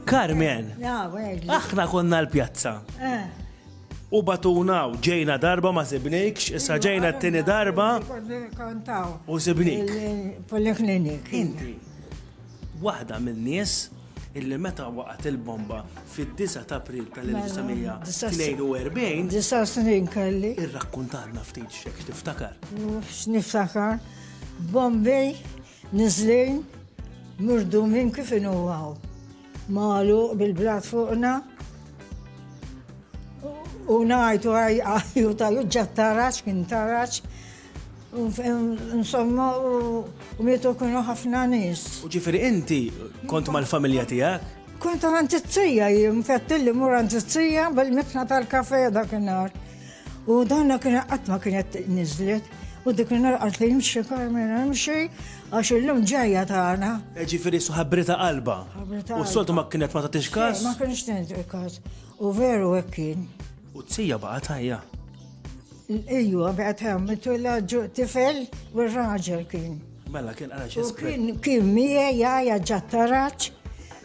Carmen, aħna konna l-pjazza. Eh. U batuna u ġejna darba ma sibnikx, issa ġejna t-tini darba. U sibnik. Poliklinik. Inti, wahda minn nies illi meta waqgħet il-bomba fid-9 ta' April tal-1942. Disa snin kelli. Irrakkuntanna ftit xek tiftakar. Niftakar. Bombay niżlin murdumin kif inhu hawn. Magħluq bil-blat fuqna u ngħidu għajju ta' juġġa tarax kien tarax insomma u mietu kienu ħafna nies. U ġifieri inti kont mal-familja tiegħek? Kont għand it-tija jien fettilli mur għand it-tija bil-mitna tal-kafe dak in-nar. U donna kien qatt ma kienet niżlet. U dik narqat li jimxi Carmen għamxi għax illum ġajja tagħna. E ġifieri ħabrita qalba. U s-soltu ma kienet ma tagħtix każ. Ma kienx tagħtix każ. U veru hekk kien. U t-sija baqa' tajja. Ejju, baqgħet hemm mitu l-ġu tifel u r-raġel kien. Mela kien għalax Kien kien miegħi jgħajja ġattaraċ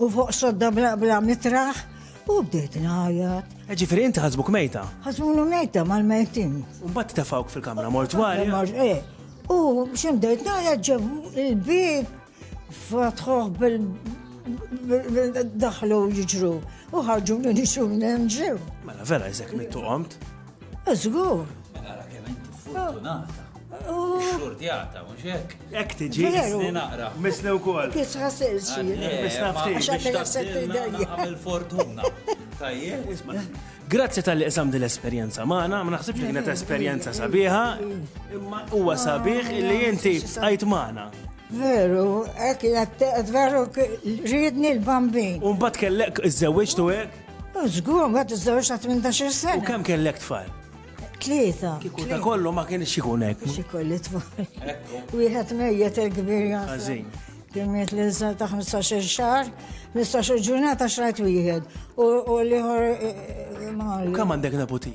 U fuq sodda bla bla mitraħ u bdejt ngħajjat. E Ġifieri inti ħasbuk mejta. Ħasbulu mejta mal-mejtin. U mbagħad tefawk fil-kamra mortwarja. Eh, u xi bdejt ngħajjat ġebu il-bib fatħuh bil daħlu jiġru u ħarġu li nixu nemġew. Mela vera jizek mittu qomt. Żgur. Ara kemm inti fortunata. Xortjata, mhux hekk. Hekk tiġi. Misni naqra. Misni wkoll. Kisħa sirsi. Misna ftit. X'għamilha sekti dejja. Għamil fortuna. Tajjeb. Grazzi tal-li qsam din l-esperjenza magħna, ma naħsibx li kienet esperjenza sabiħa, imma huwa sabiħ li inti għajt magħna. Veru, kienet veru ridni l-bambin. Umbat kellek iż-żewġ tu hekk? Żgur, ma tiżżewġ ta' 18 sena. U kemm kellek tfal? Tlieta. Kieku ta' kollu ma kienx ikun hekk. Xi kolli tfal. Wieħed mejjet il-kbir Għażin. Kienet li nżal ta' 15 xahar, 15 ġurnata xrajt wieħed. U liħor. Eh, eh, Kemm għandek neputi?